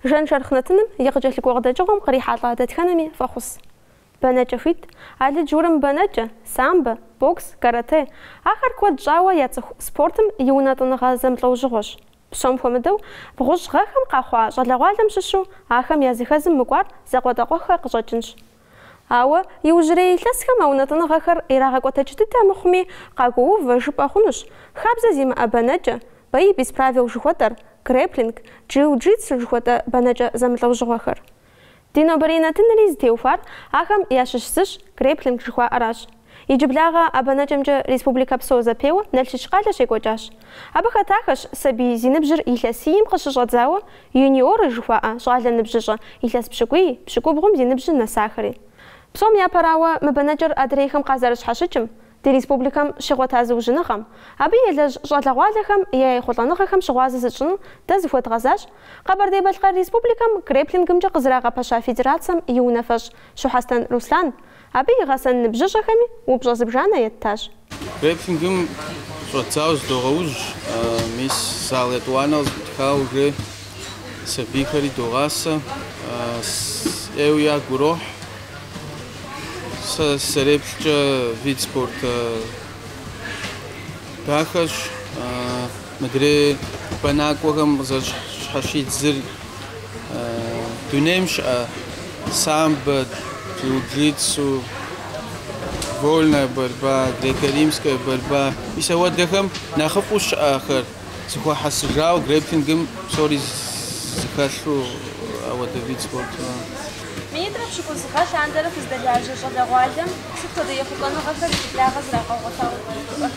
Жан шэрхъ нэтыным и къыкӏэлъыкӏуэ къыдэкӏыгъуэм кърихьэлӏа дэтхэнэми фӏэхъус. Бэнэкӏэ хуит, алыдж-урым бэнэкӏэ, самбэ, бокс, каратэ, ахэр куэд щӏауэ яцӏыху спортым и унэтӏыныгъэ зэмылӏэужьыгъуэщ. Псом хуэмыдэу, бгъущӏ гъэхэм къахъуа щӏалэгъуалэм щыщу ахэм языхэзым мыкӏуар закъуэтӏакъуэххэр къыщӏэкӏынщ. Ауэ иужьрей илъэсхэм а унэтӏыныгъэхэр ирагъэкӏуэтэкӏ дыдэ мыхъуми, къагуоувэ жыпӏэ хъунущ, хабзэ зимыӏэ бэнэкӏэ, бои без правил жыхуэтӏэр, грэпплинг, джиу-джитсу жыхуэтӏэ бэнэкӏэ зэмылӏэужьыгъуэхэр. Ди нобэрей нэтынри зытеухуар ахэм ящыщ зыщ грэпплинг жыхуаӏэращ. Иджыблагъэ а бэнэкӏэмкӏэ республикэ псо зэпеуэ Налшыч къалэ щекӏуэкӏащ. Абы хэтахэщ сабий зи ныбжьыр илъэсийм къыщыщӏэдзауэ юниоры жыхуаӏэ щӏалэ ныбжьыщӏэ илъэс пщыкӏуий, пщыкӏубгъум зи ныбжьыр нэсахэри. Псом япэрауэ, мы бэнэкӏэр адрейхэм къазэрыщхьэщыкӏым, Ди республикэм щигъуэта зыужьыныгъэм, абы елэжь щӏалэгъуалэхэм я ехъулӏэныгъэхэм щыгъуазэ зытщӏыну дэ зыхуэдгъэзащ Къэбэрдей-Балъкъэр Республикэм грэпплингымкӏэ къызэрагъэпэща федерацэм и унафэщӏ Щухьэстэн Руслан. Абы и гъэсэн ныбжьыщӏэхэми упщӏэ зыбжанэ еттащ. Грэпплингым щӏэдзауэ зыдогъэужь, мис зал етӏуанэу зэӏутхауэ сабийхэри догъасэ, ӏейуэ ягу ирохь. Сэ сэреплъкӏэ вид спорт дахэщ. Мыдрей бэнакӏуэхэм къызэщхьэщидзыр дунейм щыӏэ самбо, джиу-джитсу, вольная борьба, греко-римская борьба мис ауэдэхэм нэхъыфӏу щыӏэхэр. Зэхуэхьэсыжауэ грэпплингым псори зыхэлъу ауэдэ вид спорт. Минитӏрэ пщыкӏуз гъэ лъандэрэ фыздэлажьэ щӏалэгъуалэм сыт хуэдэ ехъулӏэныгъэхэр иджыблагъэ зрагъэгъуэтауэ жыпӏэфыну?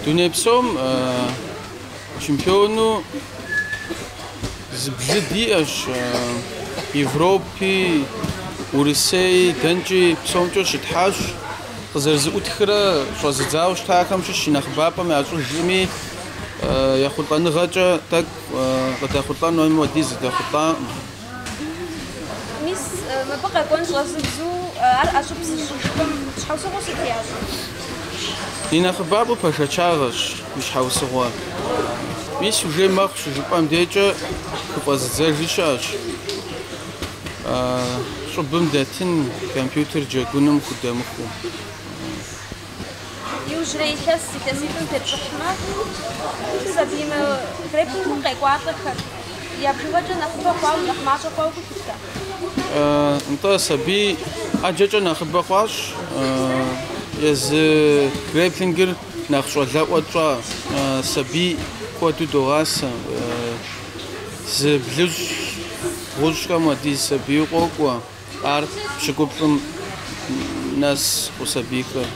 Дуней псом чемпиону зыблы диӏэщ, Европи, Урысей, дэнкӏи псомкӏэ щытхьащ. къызэрызыӏутхрэ щӏэзыдзауэ щытахэм щыщ и нэхъыбапӏэм ящӏыжкъыми, ехъулӏэныгъэкӏэ тӏэкӏу къыдэхъулӏэн хуейм хуэдиз здэхъулӏакъым. Мис мыбы къэкӏуэн щӏэзыдзэу ар ӏэщӏыб зыщӏыжхэм щхьэусыгъуэу сыт ящӏыр? И нэхъыбапӏэу бэшэчагъэщ и щхьэусыгъуэр. Мис уже мэхъу щыжыпӏэм декӏэ хыфӏэзыдзэжи щыӏэщ. щӏыбым дэтын компьютер джэгуным худэмыхуу. Иужьрей илъэс илъэситӏым тепщӏыхьмэ, сабийуэ грэпплингым къекӏуалӏэхэр я бжыгъэкӏэ нэхъыбэ хъуауэ, нэхъ мащӏэ хъуауэ гу лъыпта? Нтӏэ, сабий ӏэджэкӏэ нэхъыбэ хъуащ. Езы грэпплингыр нэхъ щӏалэӏуэ тщӏа сабий куэду догъасэ. Зы блыщӏ бгъущӏхэм хуэдиз сабийуэ къокӏуэ, ар пщыкӏуплӏым нэсыху сабийхэр.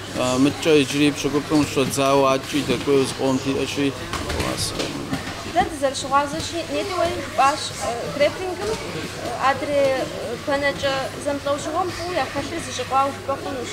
Мыткӏэ иджыри пщыкӏуплӏым щӏэдзауэ адэкӏи дэкӏуейуэ зыкъом диӏэщи, догъасэ. Дэ дызэрыщыгъуазэщи, нетӏи уэри жыпӏащ, грэпплингым адрей бэнэкӏэ зэмылӏэужьыгъуэм фӏыуэ яхэлъыр зэщӏикъуауэ жыпӏэ хъунущ.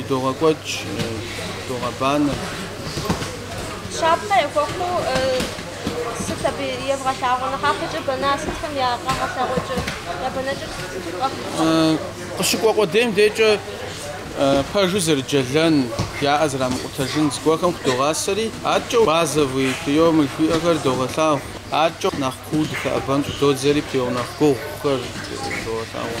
Идогъэкӏуэкӏ, догъэбанэ. Щапхъэ яхуэхъуу сыт абы евгъэлъагъуэ? Нэхъапэкӏэ бэна сытхэм я къэгъэлъэгъуэкӏэ, я бэнэкӏэр сыту къэхъукӏэ? Къыщыкӏуэ къудейм декӏэ пэжу зэрыджэлэн, яӏэ зрамыкъутэжын зыгуэрхэм худогъасэри, аткӏэ базовый приёмы жыхуиӏэхэр догъэлъагъу. Аткӏэ нэхъ куу дыхэӏэбэн щӏыдодзэри приём нэхъ гугъухэр догъэлъагъуэ.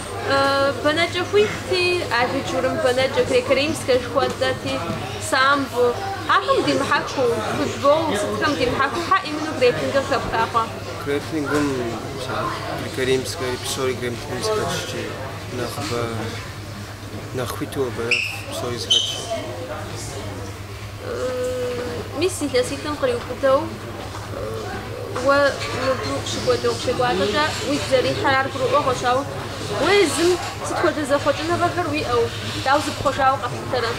Бэнэкӏэ хуитти, алыдж-урым бэнэкӏэ, греко-римскэ жыхуэтӏэти, самбо. Ахэм димыхьэхыу, футбол, сытхэм димыхьэхыу, хьэ именно грэпплингыр хэпха хъуа? Грэпплингым греко-римскэри, псори греко-римскэчкӏи нэхъыбэ, нэхъ хуиту абы псори зыхэтщ. Мис илъэситӏым къриубыдэу уэ мыбу къыщыкӏуэкӏэ, укъыщекӏуалӏэкӏэ уигу зэрихьыр ар гурыӏуэгъуэщ, ауэ уэ езым сыт хуэдэ зэхъуэкӏыныгъэхэр уиӏэу, дауэ зыпхъуэжауэ къэплъытэрэ?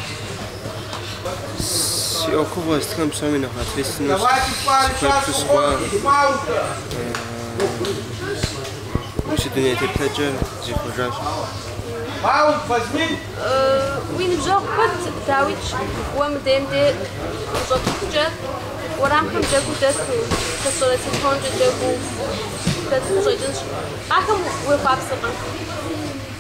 Си ӏуэхугъуэ сытхэм псоми нэхъ ответственнэу сыхуеплъу сыхъуа. Уи си дуней теплъэкӏэ зихъуэжащ. Уи ныбжьэгъу куэд дауичӏ уэ мы дейм де ущӏэтыхукӏэ, уэрамхэм джэгуу дэту, хэт щӏэрэ телефонкӏэ джэгуу дэту къыщӏэкӏынщ. Ахэм уехъуапсэкъэ?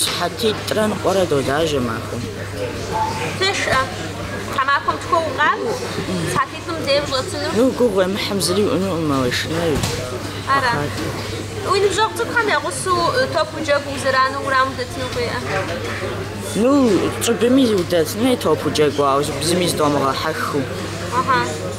Сыхьэтитӏрэ ныкъуэрэ долажьэ махуэм. Тешӏэ. Тхьэмахуэм тхуэу укъакӏуэу, сыхьэтитӏым дей ущӏэсыну. Ну, гугъу уемыхьым зыри уиӏэнукъым а уешынэр. Ара? Уи ныбжьэгъу цӏыкӏухэм я гъусэу топ уджэгуу узэрану уэрамым удэтыну ухуейӏэ? Ну, щӏыбыми удэтын хуей топ уджэгуу, ауэ зыми зыдомыгъэхьэхыу. Ахьа.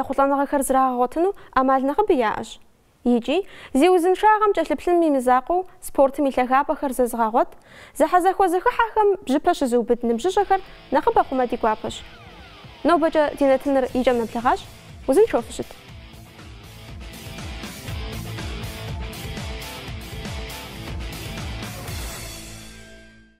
Ехъулӏэныгъэхэр зрагъэгъуэтыну ӏэмал нэхъыбэ яӏэщ. Икӏи, зи узыншагъэм кӏэлъыплъыным и мызакъуэу спортым и лъагапӏэхэр зэзыгъэгъуэт, зэхьэзэхуэ зэхыхьэхэм бжьыпэ щызыубыд ныбжьыщӏэхэр нэхъыбэ хъумэ ди гуапэщ. Нобэкӏэ ди нэтыныр и кӏэм нэблэгъащ, узыншэу фыщыт!